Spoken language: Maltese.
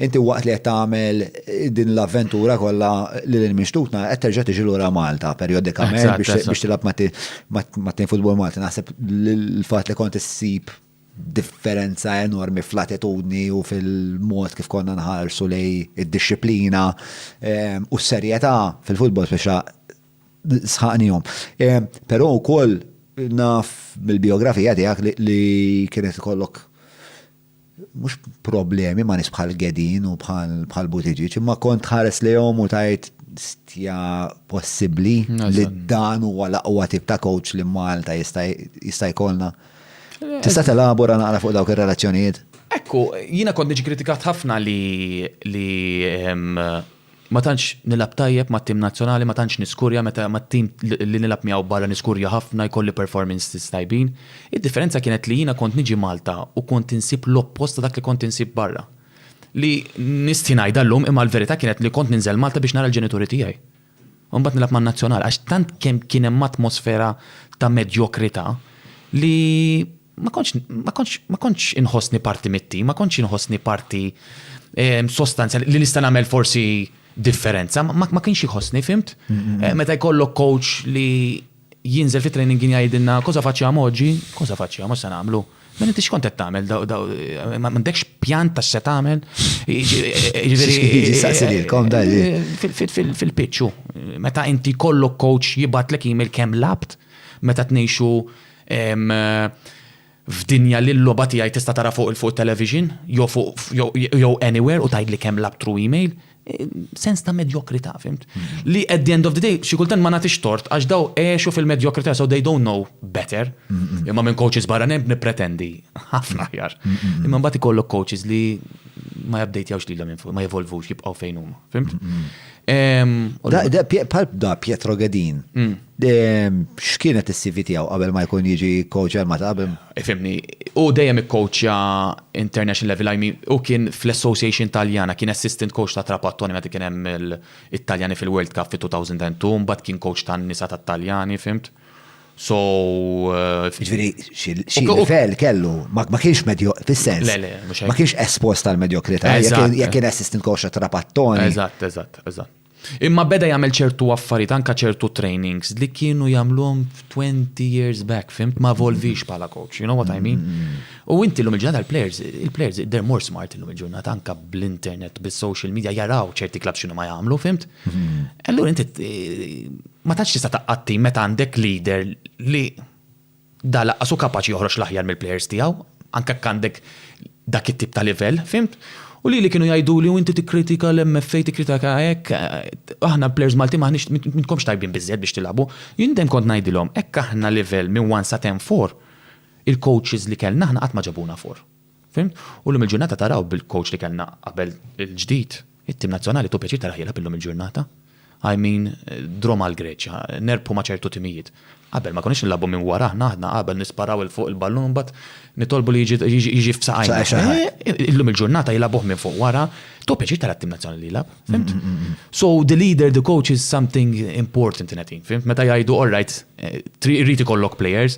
Inti waqt li qed tagħmel din l-avventura kollha lil hinn minn xtutna qed terġa' tiġi lura Malta perjodikament biex tilgħab mat-tim futbol Malti. Naħseb l-fatt li kont issib differenza enormi fl-attitudni u fil-mod kif konna nħarsu lej id-dixxiplina ehm, u s-serjetà fil-futbol speċa sħaqnihom. Ehm, però wkoll naf mill-biografija tiegħek li kienet ikollok mhux problemi ma' nies bħal Gedin u bħal Buttigieg, imma kont tħares lejhom u tgħid stja possibbli li dan huwa l-aqwa tip ta' coach li Malta jista' jkollna. Tista' telabora naqra fuq dawk ir-relazzjonijiet? Ekku, jiena kont niġi kritikat ħafna li Ma tantx nilgħab tajjeb mat-tim nazzjonali, ma tantx niskurja meta mat-tim li nilgħab miegħu barra niskurja ħafna, jkolli performances tajbin. Id-differenza kienet li jiena kont niġi Malta u kont insib l-oppost ta' dak li kont insib barra. Li nistħi ngħidha llum imma l-verità kienet li kont ninżel Malta biex nara l-ġenituri tiegħi. U mbagħad nilgħab man-Nazzjonal għax tant kemm kien hemm atmosfera ta' medjokrità li ma kontx ma kontx ma kontx inħossni parti mit-tim, ma kontx inħossni parti sostanzjali li nista' nagħmel forsi differenza, ma kienx iħossni, fimt? Meta jkollok coach li jinżel fit-training kien jgħidilna, Cosa facciamo oggi? Cosa facciamo, x'se nagħmlu? Mela inti x'kont qed tagħmel? M'għandekx pjan ta' x'se tagħmel? Fil-pitch hu. Meta inti jkollok coach jibgħatlek email kemm lgħabt, meta tnejxu F'dinja li l-logħba tiegħi tista' tara fuq il-fuq it-television jew fuq jew anywhere u tgħidli kemm lgħabt through email, sens ta' medjokrità, fhimt? Li at the end of the day, xi kultant ma nagħtix tort għax daw għexu fil-medjokrità so they don't know better. Imma minn coaches barranin nippretendi ħafna aħjar. Imma mbagħad ikollok coaches li ma jupdatejwx lilhom infus, ma jevolvux, jibqgħu fejn huma, fhimt? Bħal da Pietro Gedin. X'kienet is-CV tiegħu qabel ma jkun jiġi coach għal Malta qabel? Fhimni, hu dejjem ikkoċċja international level, I mean hu kien fl-association Taljana, kien assistant coach ta' Trapattoni meta kien hemm it-Taljani fil-World Cup fit-2002, mbagħad kien coach tan-nisa tat-Taljani, fhimt? So. Jiġifieri xi livell kellu, ma kienx medjo, fis-sens. Le, le, mhux hekk. Ma kienx espost għall-medjokrità, jekk kien assistant coach ta' Trapattoni. Eżatt, eżatt, eżatt. Imma beda jagħmel ċertu affarijiet anke ċertu trainings li kienu jagħmluhom twenty years back, fimt? Ma evolvix bħala coach, you know what I mean? U inti llum il-ġurnata l-players, il-players they're more smart illum il-ġurnata anke bl-internet, bis-social media jaraw ċerti clubs x'inhuma jagħmlu, fimt? Allura inti ma tantx tista' taqgħad tim meta għandek leader li Dan lanqas hu kapaċi joħroġ l-aħjar mill-plejers tiegħu, anke jekk għandek dak it-tip ta' livell, fhimt? U lili kienu jgħiduli u inti tikkritika l-MFA, tikkritika hekk, aħna l-plejers Maltin m'aħniex, m'intkomx tajbin biżżejjed biex tilagħbu. Jien dejjem kont ngħidilhom hekk aħna livell minn one sa ten four, il-coaches li kellna aħna qatt ma ġabuna four. Fhimt? U llum il-ġurnata taraw bil-coach li kellna qabel il-ġdid, it-tim nazzjonali tu pjaċir taraħ jilgħab illum il-ġurnata. I mean, draw mal-Greċja, nerbħu ma' ċertu timijiet. Qabel ma konniex nilagħbu minn wara aħna, aħna qabel nisparaw 'il fuq il-ballun u mbagħad nitolbu li jiġi f'saqajna. Illum il-ġurnata jilagħbuh minn fuq wara, tu pjaċir tara t-tim nazzjonali li jilgħab. Fhimt? So the leader, the coach is something important in a team. Fhimt? Meta jgħidu all right, rrid ikollok players,